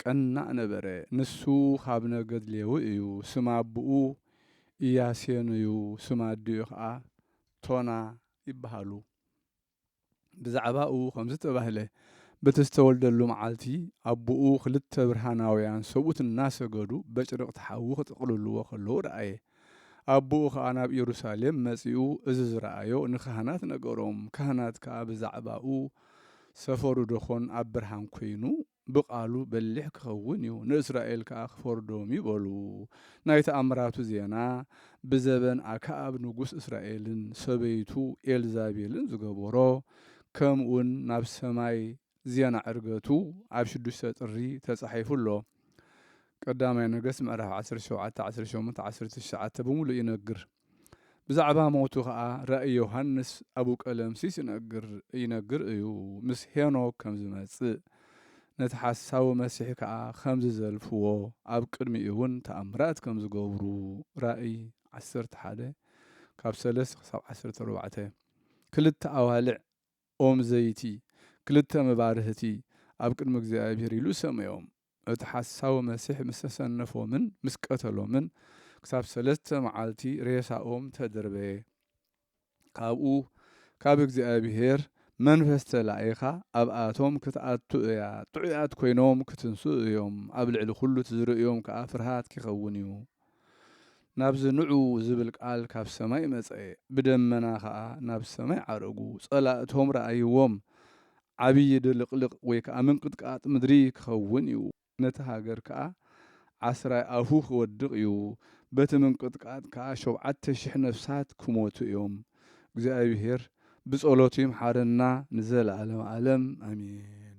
ቀናእ ነበረ። ንሱ ኻብ ነገድ ሌዊ እዩ፣ ስም ኣቦኡ ኢያሴኑ እዩ፣ ስም ኣዲኡ ኸኣ ቶና ይብሃሉ። ብዛዕባኡ ኸምዚ ተባህለ፣ በቲ ዝተወልደሉ መዓልቲ፣ ኣቦኡ ኽልተ ብርሃናውያን ሰብኡት እናሰገዱ በጭርቕቲ ሓዊ ኺጥቕልልዎ ኸለዉ ረኣየ። ኣቦኡ ኸኣ ናብ ኢየሩሳሌም መጺኡ እዚ ዝረኣዮ ንካህናት ነገሮም። ካህናት ከኣ ብዛዕባኡ፣ ሰፈሩ ደኾን ኣብ ብርሃን ኰይኑ፣ ብቓሉ በሊሕ ኪኸውን እዩ፣ ንእስራኤል ከኣ ኪፈርዶም እዩ በሉ። ናይ ተኣምራቱ ዜና ብዘበን ኣከኣብ ንጉስ እስራኤልን ሰበይቱ ኤልዛቤልን ዝገበሮ ከምኡውን ናብ ሰማይ ዜና ዕርገቱ ኣብ ሽዱሽተ ጥሪ ተጻሒፉ ኣሎ። ቀዳማይ ነገስት ምዕራፍ ዓሰርተ ሸውዓተ ዓሰርተ ሸሞንተ ዓሰርተ ትሽዓተ ብምሉእ ይነግር። ብዛዕባ ሞቱ ከኣ ራእይ ዮሃንስ ኣቡ ቀለምሲስ ይነግር ይነግር እዩ ምስ ሄኖክ ከም ዝመጽእ ነቲ ሓሳዊ መሲሕ ከኣ ከም ዝዘልፍዎ ኣብ ቅድሚኡ እውን ተኣምራት ከም ዝገብሩ ራእይ ዓሰርተ ሓደ ካብ ሰለስተ ክሳብ ዓሰርተ ኣርባዕተ ክልተ ኣዋልዕ ኦም ዘይቲ፣ ክልተ መባርህቲ ኣብ ቅድሚ እግዚኣብሄር ኢሉ ሰመዮም። እቲ ሓሳዊ መሲሕ ምስ ኣሰነፎምን ምስ ቀተሎምን፣ ክሳብ ሰለስተ መዓልቲ ሬሳኦም ተደርበየ። ካብኡ ካብ እግዚኣብሄር መንፈስ ተላኢኻ ኣብኣቶም ክትኣቱ እያ፣ ጥዑያት ኰይኖም ክትንስኡ እዮም፣ ኣብ ልዕሊ ዅሉ እቲ ዝርእዮም ከኣ ፍርሃት ኪኸውን እዩ። ናብዚ ንዑ ዝብል ቃል ካብ ሰማይ መጸ፣ ብደመና ኸኣ ናብ ሰማይ ዓረጉ፣ ጸላእቶም ረኣይዎም፣ ዓብዪ ድልቕልቕ ወይ ከኣ ምንቅጥቃጥ ምድሪ ኪኸውን እዩ፣ ነቲ ሃገር ከኣ ዓስራይ ኣፉ ኺወድቕ እዩ፣ በቲ ምንቅጥቃጥ ከኣ ሾብዓተ ሽሕ ነፍሳት ኪሞቱ እዮም። እግዚኣብሄር ብጸሎቱ ይምሓረና ንዘለኣለመ ኣለም ኣሜን።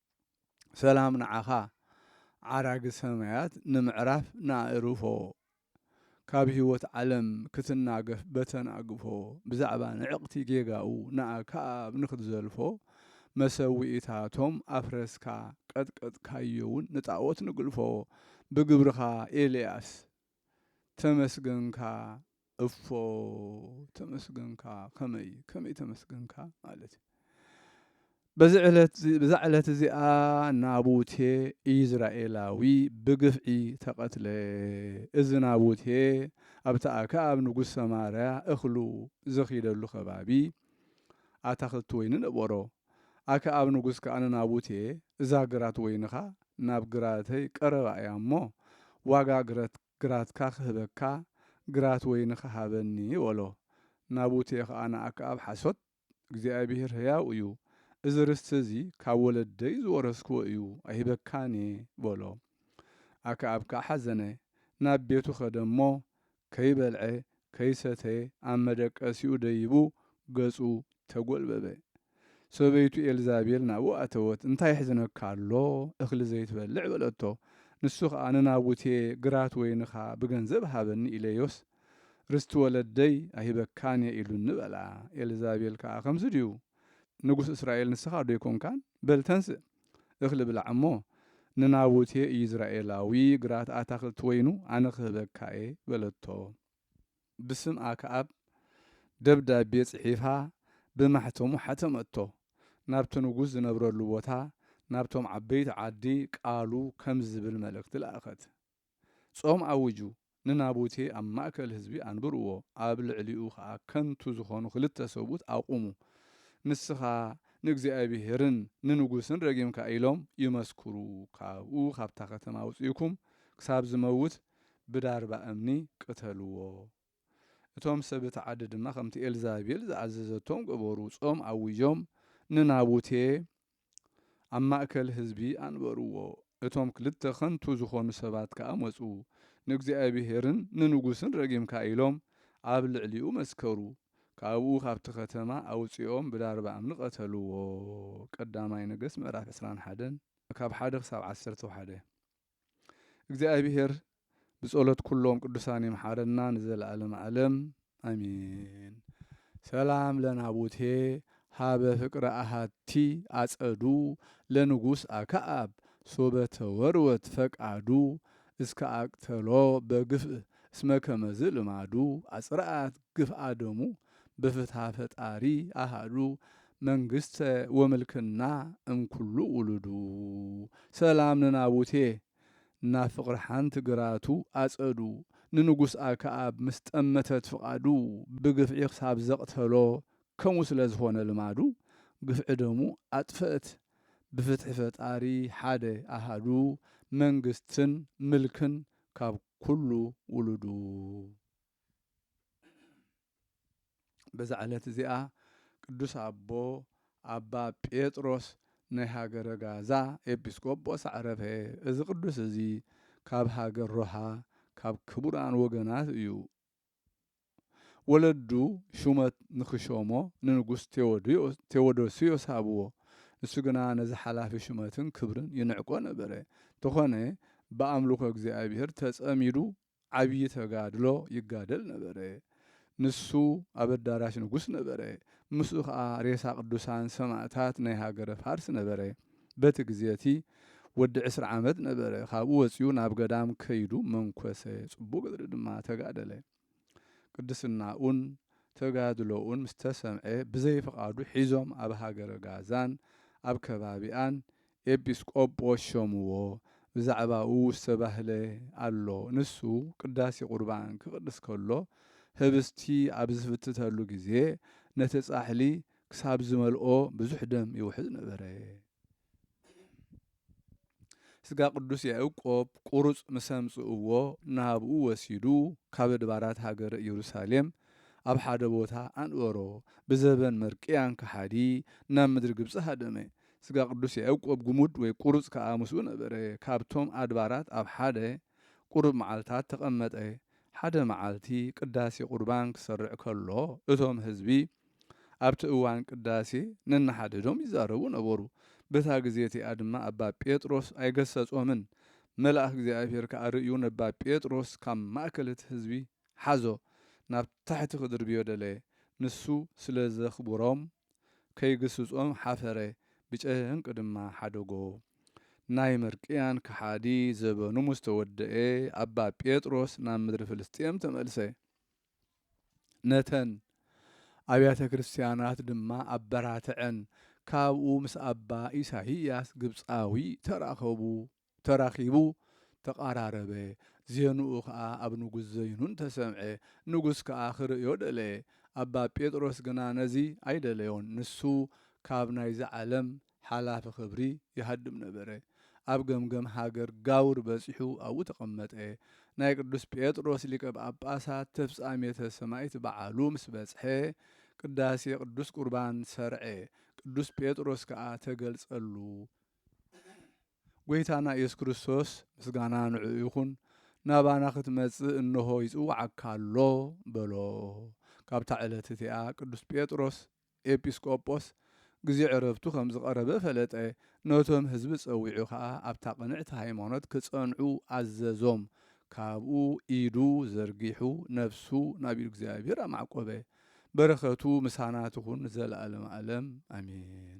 ሰላም ንዓኻ ዓራጊ ሰማያት ንምዕራፍ ንኣእርፎ ካብ ህይወት ዓለም ክትናገፍ በተናግፎ ብዛዕባ ንዕቕቲ ጌጋኡ ንኣክኣብ ንክትዘልፎ መሰውኢታቶም ኣፍረስካ ቀጥቀጥካዮውን ንጣዖት ንግልፎ ብግብርኻ ኤልያስ ተመስገንካ እፎ ተመስገንካ ከመይ ከመይ ተመስገንካ ማለት እዩ በዚ ዕለት ብዛ ዕለት እዚኣ ናቡቴ ኢዝራኤላዊ ብግፍዒ ተቐትለ እዚ ናቡቴ ኣብቲ ኣክኣብ ንጉስ ሰማርያ እኽሉ ዘኺደሉ ከባቢ ኣታኽልቲ ወይኒ ነበሮ ኣከኣብ ንጉስ ከኣ ንናቡቴ፣ እዛ ግራት ወይንኻ ናብ ግራተይ ቀረባ እያ እሞ፣ ዋጋ ግረት ግራትካ ኽህበካ፣ ግራት ወይንኻ ሃበኒ፣ በሎ። ናቡቴ ኸኣ ንኣከኣብ፣ ሓሶት፣ እግዚኣብሄር ህያው እዩ፣ እዚ ርስቲ እዚ ኻብ ወለደይ ዝወረስክዎ እዩ፣ ኣይህበካን እየ፣ በሎ። ኣከኣብ ከኣ ሓዘነ፣ ናብ ቤቱ ኸደ እሞ፣ ከይበልዐ ከይሰተየ ኣብ መደቀሲኡ ደይቡ ገጹ ተጎልበበ። ሰበይቱ ኤልዛቤል ናብኡ ኣተወት፣ እንታይ የሕዝነካ ኣሎ እኽሊ ዘይትበልዕ? በለቶ። ንሱ ኸኣ ንናቡቴ ግራት ወይንኻ ብገንዘብ ሃበኒ ኢለዮስ ርስቲ ወለደይ ኣይህበካን እየ ኢሉኒ በላ። ኤልዛቤል ከኣ ከምዚ ድዩ ንጉስ እስራኤል ንስኻዶ ኣይኮንካን? በል ተንስእ! እኽሊ ብላዕ እሞ፣ ንናቡቴ ኢይዝራኤላዊ ግራት ኣታኽልቲ ወይኑ ኣነ ኽህበካ እየ፣ በለቶ። ብስም ኣክኣብ ደብዳቤ ጽሒፋ ብማሕተሙ ሓተመቶ፣ ናብቲ ንጉስ ዝነብረሉ ቦታ፣ ናብቶም ዓበይቲ ዓዲ ቃሉ ከምዚ ዚብል መልእኽቲ ለኣኸት። ጾም ኣውጁ፣ ንናቡቴ ኣብ ማእከል ህዝቢ ኣንብርዎ፣ ኣብ ልዕሊኡ ኸኣ ከንቱ ዝዀኑ ኽልተ ሰብኡት ኣቝሙ። ንስኻ ንእግዚኣብሄርን ንንጉስን ረጊምካ ኢሎም ይመስክሩ፣ ካብኡ ኻብታ ኸተማ ኣውጺእኩም ክሳብ ዚመውት ብዳርባ እምኒ ቅተልዎ። እቶም ሰብ እታ ዓዲ ድማ ኸምቲ ኤልዛቤል ዝኣዘዘቶም ገበሩ፣ ጾም ኣዊጆም ንናቡቴ ኣብ ማእከል ህዝቢ ኣንበርዎ፣ እቶም ክልተ ኸንቱ ዝዀኑ ሰባት ከኣ መጹ፣ ንእግዚኣብሄርን ንንጉስን ረጊምካ ኢሎም ኣብ ልዕሊኡ መስከሩ፣ ካብኡ ኻብቲ ኸተማ ኣውጺኦም ብዳርባ እምኒ ቐተልዎ። ቀዳማይ ነገስት ምዕራፍ ዕስራን ሓደን፣ ካብ ሓደ ክሳብ ዓሰርተው ሓደ። እግዚኣብሔር ብጸሎት ኩሎም ቅዱሳን ይምሓረና ንዘለዓለም ዓለም ኣሜን። ሰላም ለናቡቴ ሃበ ፍቅረ ኣሃቲ ኣጸዱ ለንጉስ ኣክኣብ ሶበ ተወርወት ፈቃዱ እስከ ኣቅተሎ በግፍእ እስመ ከመዝ ልማዱ ኣጽርኣት ግፍኣ ደሙ በፍትሃ ፈጣሪ ኣሃዱ መንግስተ ወምልክና እምኩሉ ውሉዱ። ሰላም ንናቡቴ ናብ ፍቕሪ ሓንቲ ግራቱ ኣጸዱ ንንጉስ ኣከኣብ ምስ ጠመተት ፍቓዱ ብግፍዒ ክሳብ ዘቕተሎ ከምኡ ስለ ዝኾነ ልማዱ ግፍዒ ደሙ ኣጥፈእት ብፍትሒ ፈጣሪ ሓደ ኣሃዱ መንግስትን ምልክን ካብ ኩሉ ውሉዱ። በዛ ዕለት እዚኣ ቅዱስ ኣቦ ኣባ ጴጥሮስ ናይ ሃገረ ጋዛ ኤጲስቆጶስ ኣዕረፈ። እዚ ቅዱስ እዚ ካብ ሃገር ሮሃ ካብ ክቡራን ወገናት እዩ። ወለዱ ሹመት ንክሾሞ ንንጉስ ቴዎዶስዮስ ሃብዎ። ንሱ ግና ነዚ ሓላፊ ሹመትን ክብርን ይንዕቆ ነበረ። እንተኾነ ብኣምልኾ እግዚኣብሔር ተጸሚዱ ዓብዪ ተጋድሎ ይጋደል ነበረ። ንሱ ኣብ ኣዳራሽ ንጉስ ነበረ። ምስኡ ከኣ ሬሳ ቅዱሳን ሰማእታት ናይ ሃገረ ፋርስ ነበረ። በቲ ግዜ እቲ ወዲ ዕስራ ዓመት ነበረ። ካብኡ ወጺኡ ናብ ገዳም ከይዱ መንኰሰ፣ ጽቡቕ ገድሊ ድማ ተጋደለ። ቅድስናኡን ተጋድሎኡን ምስ ተሰምዐ ብዘይ ፍቓዱ ሒዞም ኣብ ሃገረ ጋዛን ኣብ ከባቢኣን ኤጲስ ቆጶስ ሾምዎ ብዛዕባኡ ዝተባህለ ኣሎ ንሱ ቅዳሴ ቁርባን ክቅድስ ከሎ ህብስቲ ኣብ ዝፍትተሉ ግዜ ነቲ ጻሕሊ ክሳብ ዝመልኦ ብዙሕ ደም ይውሕዝ ነበረ ስጋ ቅዱስ ያእቆብ ቁሩጽ ምስ ኣምጽእዎ ናብኡ ወሲዱ ካብ ኣድባራት ሃገረ ኢየሩሳሌም ኣብ ሓደ ቦታ ኣንበሮ ብዘበን መርቅያን ከሓዲ ናብ ምድሪ ግብጺ ሃደመ ስጋ ቅዱስ ያእቆብ ግሙድ ወይ ቁሩጽ ከኣ ምስኡ ነበረ፣ ካብቶም ኣድባራት ኣብ ሓደ ቁሩብ መዓልታት ተቐመጠ። ሓደ መዓልቲ ቅዳሴ ቁርባን ክሰርዕ ከሎ እቶም ህዝቢ ኣብቲ እዋን ቅዳሴ ነንሓድሕዶም ይዛረቡ ነበሩ። በታ ግዜ እቲኣ ድማ ኣባ ጴጥሮስ ኣይገሰጾምን። መልኣክ እግዚኣብሔር ከኣ ርእዩ ነባ ጴጥሮስ ካብ ማእከል እቲ ህዝቢ ሓዞ ናብ ታሕቲ ክድርብዮ ደለየ። ንሱ ስለ ዘኽብሮም ከይግስጾም ሓፈረ ብጨህንቂ ድማ ሓደጎ። ናይ ምርቅያን ከሓዲ ዘበኑ ምስ ተወደኤ ኣባ ጴጥሮስ ናብ ምድሪ ፍልስጥኤም ተመልሰ። ነተን ኣብያተ ክርስቲያናት ድማ ኣበራተዐን። ካብኡ ምስ ኣባ ኢሳይያስ ግብጻዊ ተራኸቡ። ተራኺቡ ተቓራረበ። ዜንኡ ከኣ ኣብ ንጉስ ዘይኑን ተሰምዐ። ንጉስ ከኣ ኺርእዮ ደለየ። ኣባ ጴጥሮስ ግና ነዚ ኣይደለዮን። ንሱ ካብ ናይዚ ዓለም ሓላፊ ኽብሪ ይሃድም ነበረ። ኣብ ገምገም ሃገር ጋውር በጺሑ ኣብኡ ተቐመጠ። ናይ ቅዱስ ጴጥሮስ ሊቀ ጳጳሳት ተፍጻሜተ ሰማይት በዓሉ ምስ በጽሐ ቅዳሴ ቅዱስ ቍርባን ሠርዐ። ቅዱስ ጴጥሮስ ከኣ ተገልጸሉ። ጎይታና ኢየሱስ ክርስቶስ ምስጋና ንዕኡ ይኹን ናባና ክትመጽእ እንሆ ይጽውዓካ ኣሎ በሎ። ካብታ ዕለት እቲኣ ቅዱስ ጴጥሮስ ኤጲስ ቆጶስ ግዜ ዕረፍቱ ከም ዝቐረበ ፈለጠ፣ ነቶም ሕዝቢ ጸዊዑ ከኣ ኣብታ ቅንዕቲ ሃይማኖት ክጸንዑ ኣዘዞም፣ ካብኡ ኢዱ ዘርጊሑ ነፍሱ ናብ ኢዱ እግዚኣብሔር ኣማዕቆበ። በረከቱ ምሳና ትኹን ንዘለኣለም ኣለም ኣሜን።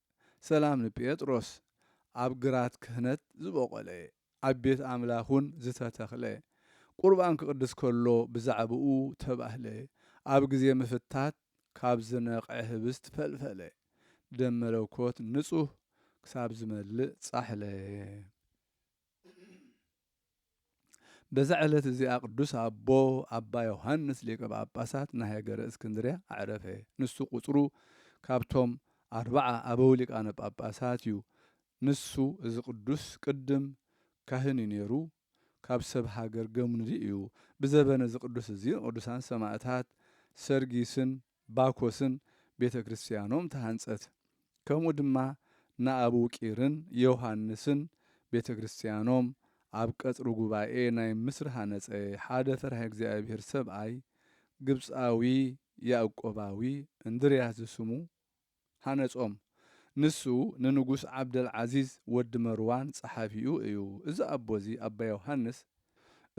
ሰላም ንጴጥሮስ ኣብ ግራት ክህነት ዝቦቖለ ኣብ ቤት ኣምላኽ ውን ዝተተኽለ ቁርባን ክቕድስ ከሎ ብዛዕባኡ ተባህለ ኣብ ግዜ ምፍታት ካብ ዝነቐዐ ህብስት ፈልፈለ ደም መለኮት ንጹህ ክሳብ ዝመልእ ጻሕለ። በዛ ዕለት እዚኣ ቅዱስ ኣቦ ኣባ ዮሃንስ ሊቀ ጳጳሳት ናይ ሃገረ እስክንድርያ ኣዕረፈ። ንሱ ቁጽሩ ካብቶም ኣርብዓ ኣበው ሊቃነ ጳጳሳት እዩ። ንሱ እዚ ቅዱስ ቅድም ካህን እዩ ነይሩ፣ ካብ ሰብ ሃገር ገምኑዚ እዩ። ብዘበነ እዚ ቅዱስ እዚ ንቅዱሳን ሰማእታት ሰርጊስን ባኮስን ቤተ ክርስቲያኖም ተሃንጸት። ከምኡ ድማ ንኣቡቂርን ዮውሃንስን ቤተ ክርስቲያኖም ኣብ ቀጽሪ ጉባኤ ናይ ምስር ሃነጸ ሓደ ፈራህ እግዚኣብሔር ሰብኣይ ግብጻዊ ያእቆባዊ እንድርያስ ዝስሙ ሃነጾም። ንሱ ንንጉስ ዓብደልዓዚዝ ወዲ መርዋን ጸሓፊኡ እዩ። እዚ ኣቦ እዚ ኣባ ዮሃንስ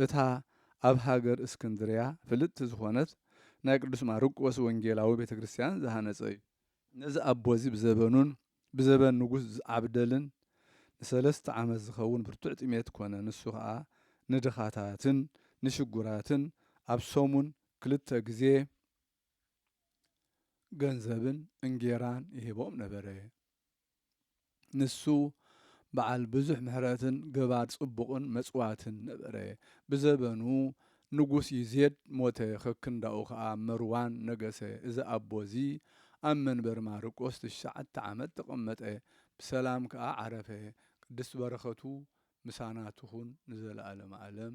እታ ኣብ ሃገር እስክንድርያ ፍልጥቲ ዝኾነት ናይ ቅዱስ ማርቆስ ወንጌላዊ ቤተ ክርስቲያን ዝሃነጸ እዩ። ነዚ ኣቦ እዚ ብዘበኑን ብዘበን ንጉስ ዓብደልን ንሰለስተ ዓመት ዝኸውን ብርቱዕ ጥሜት ኮነ። ንሱ ኸኣ ንድኻታትን ንሽጉራትን ኣብ ሰሙን ክልተ ግዜ፣ ገንዘብን እንጌራን ይህቦም ነበረ። ንሱ በዓል ብዙሕ ምሕረትን ገባር ጽቡቕን መጽዋትን ነበረ። ብዘበኑ ንጉስ ይዜድ ሞተ፣ ከክንዳኡ ኸኣ መርዋን ነገሰ። እዚ ኣቦ እዚ ኣብ መንበር ማርቆስ ትሽዓተ ዓመት ተቐመጠ፣ ብሰላም ከኣ ዓረፈ። ቅድስት በረኸቱ ምሳና ትኹን ንዘለዓለመ ዓለም።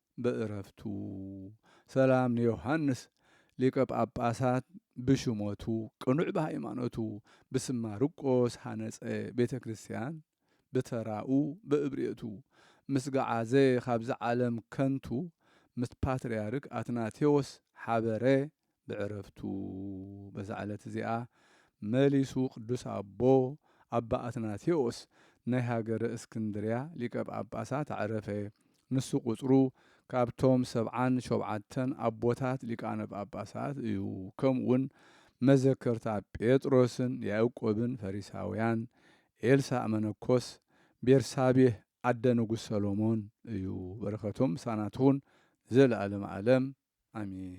ብዕረፍቱ ሰላም ንዮሓንስ ሊቀ ጳጳሳት ብሹመቱ ቅኑዕ ብሃይማኖቱ ብስም ማርቆስ ሃነጸ ቤተ ክርስቲያን ብተራኡ ብእብርየቱ ምስ ገዓዘ ካብዚ ዓለም ከንቱ ምስ ፓትርያርክ ኣትናቴዎስ ሓበረ ብዕረፍቱ በዛ ዕለት እዚኣ መሊሱ ቅዱስ ኣቦ ኣባ ኣትናቴዎስ ናይ ሃገረ እስክንድርያ ሊቀ ጳጳሳት ኣዕረፈ። ንሱ ቁጽሩ ካብቶም ሰብዓን ሾብዓተን ኣቦታት ሊቃነ ጳጳሳት እዩ። ከምኡውን መዘከርታ ጴጥሮስን ያእቆብን ፈሪሳውያን፣ ኤልሳእ መነኮስ ቤርሳቤህ፣ ኣደ ንጉስ ሰሎሞን እዩ በረከቶም ምሳና ትኩን ንዘለኣለም ኣለም ኣሜን።